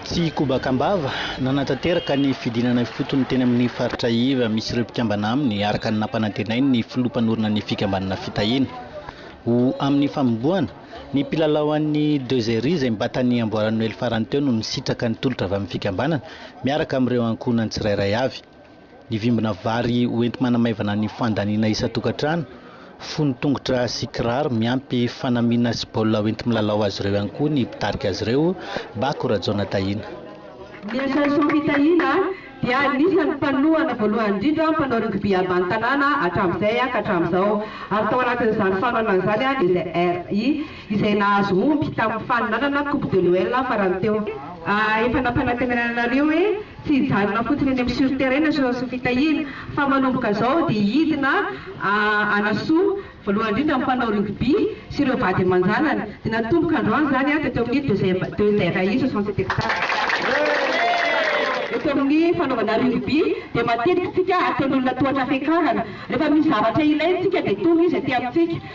Tsy kobaka am-bava, nanatanteraka ny fidinana ifotony teny amin'ny faritra iva misy ireo mpikambana aminy, araka ny nampanantenain'ny filoha mpanorina ny fikambanana Fitahiana ho amin'ny fanombohana ny mpilalao an'ny Deux Ery izay mba tany amboaran'ny noely farany teo no nisitraka ny tolotra avy amin'ny fikambanana miaraka amin'ireo ankohonany tsirairay avy. Ny vimbina vary ho enti-manamaivana ny fandaniana isan-tokantrano, fono tongotra sy kiraro miampy fanamiana sy baolina ho enti-milalao azy ireo ihany koa ny mpitarika azy ireo, Bako Rajaona Tahiana. Ny Association Fitahiana dia anisan'ny mpanohana voalohany indrindra mpanao rugby avy any tanàna hatramin'izay ka hatramin'izao ary tao anatin'izany fanohanana izany dia izay RI. izay nahazo omby tamin'ny faninanana Coupe de l'OL farany teo. Efa nampanantenana anareo hoe tsy hijanona fotsiny eny amin'ny sur terrain ny Sososy Fitahiana fa manomboka izao dia hidina hanasoa voalohany indrindra ny mpanao rugby sy ireo vady aman-janany. Dia natomboka androany izany an, teto amin'ny Deuxièmei soixante sept hectares. Eto amin'ny fanaovana rugby dia matetika isika ataon'olona tohatra fiakarana. Rehefa misy zavatra ilaintsika dia tonga izy aty amintsika.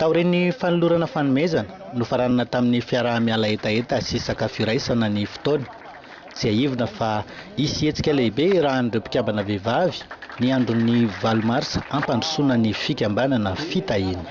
Taorian'ny fanolorana fanomezana, nofaranana tamin'ny fiaraha-miala hetaheta sy sakafo iraisana ny fotoana. Tsiahivina fa hisy hetsika lehibe irahan'ireo mpikambana vehivavy ny andron'ny valo marsa hampandrosoana ny fikambanana fitahiana.